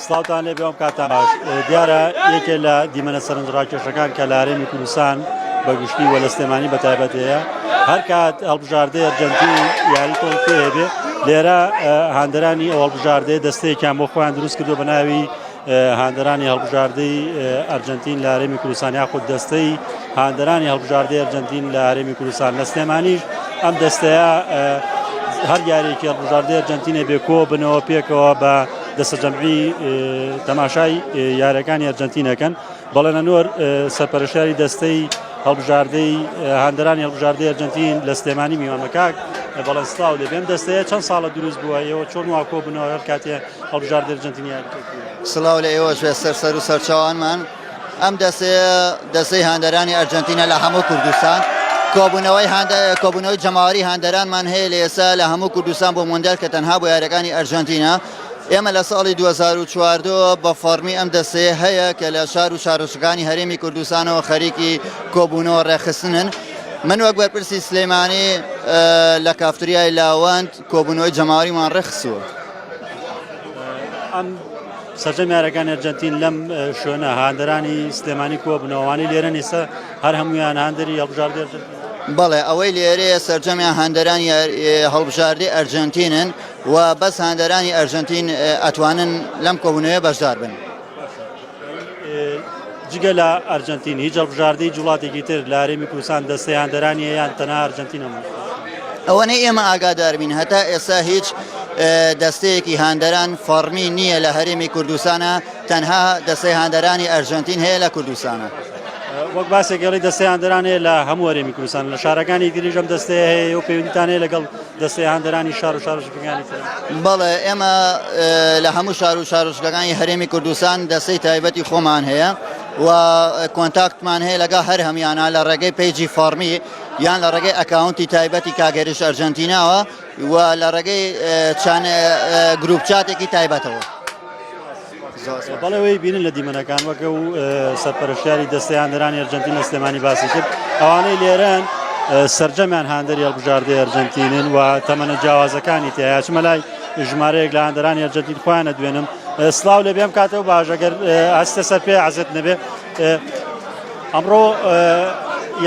سڵاوتان لێ بێم کاتان باش دیارە یەکێ لە دیمەنە سەرنجڕاکێشەکان کە لارێنی کوردستان بە گشتی وە لە سلێمانی بە تایبەت هەیە هەر کات هەڵبژاردە ئەرجەنتی یاری تۆڵکی هەبێ لێرە هاندرانی ئەو هەڵبژاردەیە دەستەیەکیان بۆ خۆیان دروست کردو بە ناوی هاندرانی هەڵبژاردەی ئەرجەنتین لارێمی کوردستان یاخود دەستەی هاندەرانی هەڵبژاردەی ئەرجەنتین لە هەرێمی کوردستان لە سلێمانیش ئەم دەستەیە هەر یاریێکی هەڵبژاردەی ئەرجەنتینە بێ کۆ بنەوە پێکەوە بە دەسەجەمعی تەماشای یارەکانی ئەرجەنتینەکەن بەڵێنە نۆر سەرپەرشاری دەستەی هەڵبژاردەی هاندەرانی هەڵبژاردەی ئەرجەنتین لە سلێمانی میوانەکک بەڵێن سلااو لە بێم دەستەیە چەند ساڵە دروست بووە ئەوە چۆن واکۆ بنەوە هەر کاتێ هەڵبژاردەر جنتینیان سلااو لە ئێوەش بێ سەر سەر و سەرچوانمان. ئەم دەستەیە دەستەی هاندەرانی ئەرجەنتینە لە هەموو کوردستان کۆبوونەوەی کۆبوونەوەی جەماوەری هاندەرانمان هەیە لە ئێستا لە هەموو کوردستان بۆ مندێل کە تەنها بۆ یارەکانی ئەرجەنتینە ئێمە لە ساڵی 2014 بە فەرمی ئەم دەستەیە هەیە کە لە شار و شارۆچەکانی هەرێمی کوردستانەوە خەریکی کۆبوونەوە ڕێخستنن من وەک بەرپرسی سلەیمانی لە کافتریای لاوەند کۆبوونەوەی جەماوەریمان ڕێکخستووە. ئەم سەرجەم یارەکانی ئەرجەنتین لەم شوێنە هاندەرانی سلێمانی کۆبنەوەوانی لێرە نیسە هەر هەمویان هاندری هەڵبژاردێ بەڵێ ئەوەی لێرەیە سەرجەمیان هەندەرانی هەڵبژاردی ئەرجنتینن و بەس هاندەرانی ئەرجنتین ئەتوانن لەم کۆبوونەوە بەشدار بن. جگە لە ئەرجەنتین هیچ هەڵبژاردەی جوڵاتێکی تر لە هەرێمی کوردستان دەستەیاندەرانی یان تەنها ئەرجەنتینە ئەوەنەی ئێمە ئاگاداربین هەتا ئێستا هیچ دەستەیەکی هاندەران فەرمی نییە لە هەرێمی کوردستانە تەنها دەستەی هاندەرانی ئەرژەنتین هەیە لە کوردستانە. وەک باسێکگەڵی دەستیان دەرانێ لە هەموو وەرێمی کوردستان لە شارەکانی دیریژەم دەستێ هەیە و پەیوەندیتانەیە لەگەڵ دەستێهاندەرانی شار و شارۆچکەکانی تر. بەڵێ ئێمە لە هەموو شار و شارۆچکەکانی هەرێمی کوردستان دەستەی تایبەتی خۆمان هەیە و کۆنتاکتمان هەیە لەگە هەر هەمیانە لە ڕێگەی پەیجی فەڕمی یان لە ڕێگەی ئەکاونتی تایبەتی کاگەریش ئەرجەنتیناوە و لە ڕێگەی چەند گروپ چاتێکی تایبەتەوە. بەڵێ وەی بینن لە دیمەنەکان وەکە و سەرپەرشتیاری دەستەیاندرانی ئەرجنتین لە سلێمانی باسی کرد ئەوانەی لێرەن سرجەمیان هاندەری هەڵبژاردەی ئەرجنتینن و تەمەە جیاوازەکانی تیا چمە لای ژمارەیەک لە هاندەرانی ئەرجنتین خۆیانە دوێنم سلااو لە بێم کاتەوە باژەگەر ئاستە سەر پێ عزت نەبێ ئەمڕۆ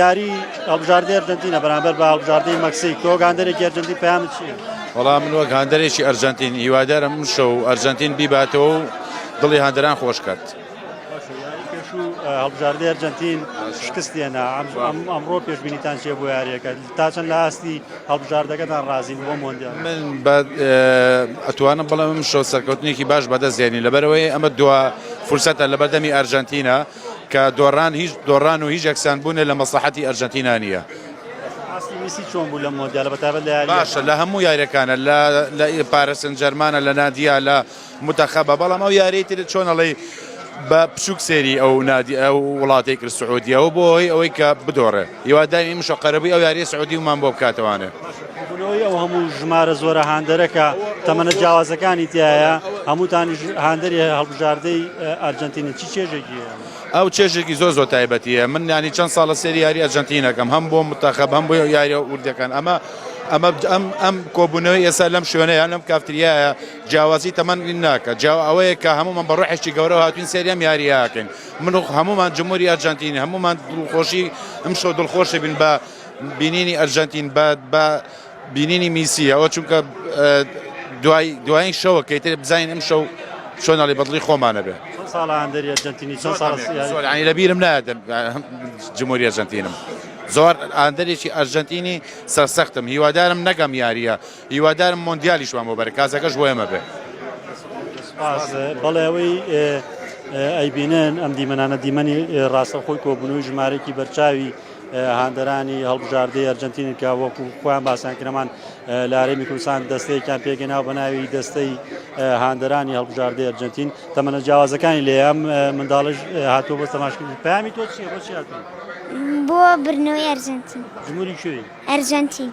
یاری هەڵبژاردەی ئەرجنتینە بەرامبەر بە هەڵبژاردەی مەکسیک تۆگاندەرێکی ئەرجنتی پەیامت چیە؟ وەڵا من وەک هاندەرێکی ئەرجەنتین هیوادارم ئەمشەو ئەرجەنتین بیباتەوە و دڵی هاندەران خۆش کات. هەڵبژاردەی ئەرجەنتین شکستێنە ئەمڕۆ پێشبینیتان چێ بۆ یاریەکە تا چەند لە ئاستی هەڵبژاردەکەتان ڕازی بۆ مۆندیا من ئەتوانم بڵێ من شۆ سەرکەوتنێکی باش بەدەستێنی لەبەرەوەی ئەمە دو فرسەتە لە بەردەمی ئەرجەنتینە کە دۆڕان هیچ دۆڕان و هیچ یەکسان بوونە لە مەسلحەتی ئەرجەنتینا نیە ئاستی میسی چۆن بوو لەم مۆندیالە بە تایبەت لە یارییەکان؟ باشە لە هەموو یارییەکانە لە لە پارە سنجەرمانە لە نادیا لە متەخەبە بەڵام ئەو یاری تر چۆن ئەڵێ بە بچووک سێری ئەو نادی ئەو وڵاتی کرد سعودیەوە بۆ هۆی ئەوەی کە بدۆڕێ یوادامی مشە قەرەبووی ئەو یاری سعودی ومان بۆ بکاتەوانێ بوونەوەی ئەو هەموو ژمارە زۆرە هاندەرەکە تەمەنە جیاوازەکانی تایە هەمووتانی هاندەری هەڵبژاردەی ئەرجنتینە چی چێژێکی ئەو چێژێکی زۆر زۆر تایبەتی هەیە، من یانی چەند ساڵە سێری یاری ئەرجەنتین ئەکەم هەم بۆ متەخەب هەم بۆ یاریە وردەکان ئەمە ئەمە ئەم ئەم کۆبوونەوەی ئێستا لەم شوێنەیە لەم کافتریایە جیاوازی تەمەن ناکە جیاو ئەوەیە کە هەمومان بە ڕۆحێکی گەورەوە هاتوین سێری ئەم یاریەکەین من و هەمومان جمهوری ئەرجەنتین هەمومان دڵخۆشی ئەمشەو دڵخۆشی بین بە بینینی ئەرجەنتین بە بە بینینی میسی ئەوە چونکە دوای دوایین شەوە کەیتر بزانین ئەم شەو چۆن ئەڵی بەدڵی خۆمانە بێ ساڵانی لەبیرم نادەم جمهوری ئەرجنتینم زۆر ئاندەرێکی ئەرجنتینی سەرسەختم هیوادارم نەگەم یاریە هیوادارم مۆندیالیشمان بۆ بەرە کازەکەش بۆ ئێمە بێ بەڵێەوەی ئەیبینن ئەم دیمەنانە دیمەنی ڕاستەخۆی کۆبوونەوەی ژمارەێکی بەرچاوی هاندەرانی هەڵبژاردەی ئەرجەنتینن کە وەکو خۆیان باسیان کرەمان لە هەرێمی کوردستان دەستەیەکیان پێگەناو بە ناوی دەستەی هاندەرانی هەڵبژاردەی ئەرجەنتین تەمەنە جیاوازەکانی لێیان منداڵش هاتووە بۆ تەماشکردن پامی تۆ چیە بۆ چی هاتووی؟ بۆ برنەوەی ئەرجەنتین جمهوری کوێی؟ ئەرجەنتین.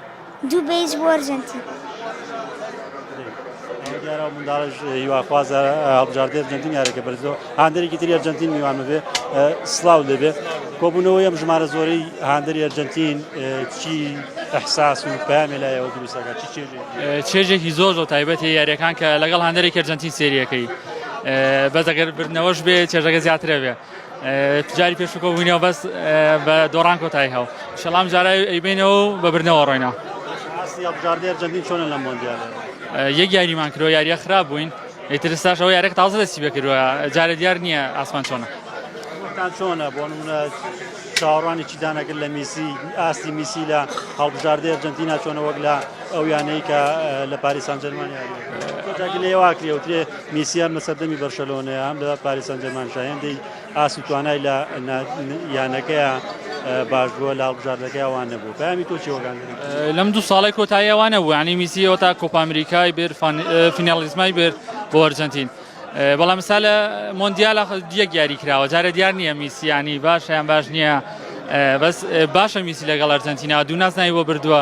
دوو بەیج بۆ ئەرجەنتین. ئەوە دیارە منداڵش هیواخوازە هەڵبژاردەی ئەرجەنتین یارەکە بەرزۆ هاندەرێکی تری ئەرجەنتین میوان بێ سلااو دەبێ کۆبوونەوەی ئەم ژمارە زۆرەی هاندەری ئەرجەنتین چی ئەحساس و پامێ لایەوە دروستەکە چی چێژێ چێژێکی زۆر زۆر تایبەتی یاریەکان کە لەگەڵ هاندەرێکی ئەرجەنتین سریەکەی بەس ئەگەر بردنەوەش بێ چێژەکە زیاترە بێ جاری پێشوو کۆبووینەوە بەس بە دۆڕان کۆتایی هەو شەڵام جارای ئەیبینەوە و بە بردنەوە ڕۆینەوە یاجاردێر جەندین چۆنە لە مۆندیال یەک یاریمان کرۆ یاریە خراپ بووین ئیتر ساشەوە یارێک تازە دەستی بکردوە جارە دیار نییە ئاسمان چۆنە چۆنە بۆ منە چاوەڕوانی چی دانەگر لە میسی ئاستی میسی لە هەڵبژاردە ئەرجنتینا چۆنە وەک لە ئەو یانەی کە لە پاریسان جەرمانیا لێواکرێوترێ میسی هەم لە سەردەمی بەرشەلۆنەیە هەم لە پاریس سانجێرمانشە هێندەی ئاست و توانای لە یانەکەیە باش بووە لە هەڵبژاردەکەی ئەوان نەبوو پامی تۆ چیوەگان لەم دوو ساڵی کۆتایی ئەوانە بوو ینی میسیەوە تا کۆپامیریکای بێر فینالیزمای بێر بۆ ئەرجنتین بەڵام سا لە مۆندیال دیەک یاری کراوە جارە دیار نییە میسیانی باشیان باش نییە بەس باشە میسی لەگەڵ ئەرجنتینا دوو نازناوی بۆ بردووە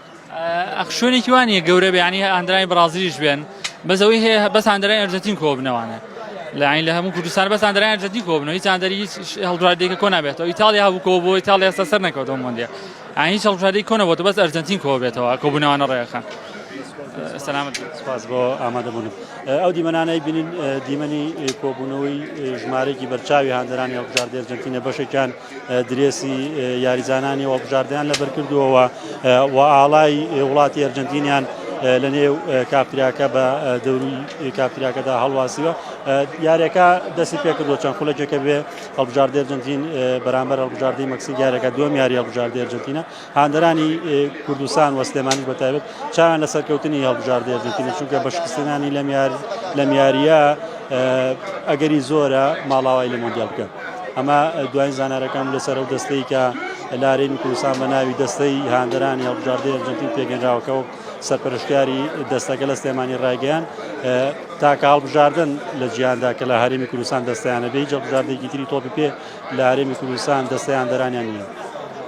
ئەخشۆنێکی وانە گەورە بیانی ئەندرای بڕازیش بێن بەزەوەی هەیە بەس ئەندرای ئەرجەتین کۆبنەوانە لەین لە هەموو کوردستان بەس ئەندرای ئەرجەتین کۆبنەوە هیچ ئەندری هیچ هەڵدرادێکە کۆ نابێتەوە ئیتالیا هەبوو کۆ بۆ ئیتالیا ئێستا سەر نەکەوتەوە مۆندیا ئاین هیچ هەڵدرادی کۆ نەبووەوە بەس ئەرجەتین کۆ بێتەوە کۆبوونەوانە ڕێەکان سلامت سپاس بۆ ئامادەبوونم ئەو دیمەنانەی بینین دیمەنی کۆبوونەوەی ژمارەێکی بەرچاوی هاندەرانی هەڵبژاردێرجنتینە بەشێکیان درێسی یاریزانانی هەڵبژاردەیان لەبەرکردووەوە و ئاڵای وڵاتی ئەرجەنتینیان لە نێو کاپتریاکە بە دەوری کاپتریاکەدا هەڵواسیوە یارەکە دەستی پێکردو چەند خولەکێکە بێ هەڵبژاردە ئەرجنتین بەرامبەر هەڵبژاردەی مەکسیک یارەکە دوم یاری هەڵبژاردە ئەرجنتینە هاندەرانی کوردستان و سلێمانیش بە تایبەت چاویان لە سەرکەوتنی هەڵبژاردەی ئەرجەنتینە، چونکە بە شکستهێنانی لەم یارییە ئەگەری زۆرە ماڵاوایی لە مۆندیال بکەن. ئەمە دوایین زانیارییەکان بوو لەسەر ئەو دەستەی کە لە هەرێمی کوردستان بە ناوی دەستەی هاندەرانی هەڵبژاردەی ئەرجەنتین پێکهێنراوە کە وەک سەرپەرشتیاری دەستەکە لە سلێمانی ڕایگەیاند تاکە هەڵبژاردن لە جیهاندا کە لە هەرێمی کوردستان دەستیانە بێ هیچ هەڵبژاردەیەکی تری تۆپی پێ لە هەرێمی کوردستان دەستەی هاندەرانیان نییە.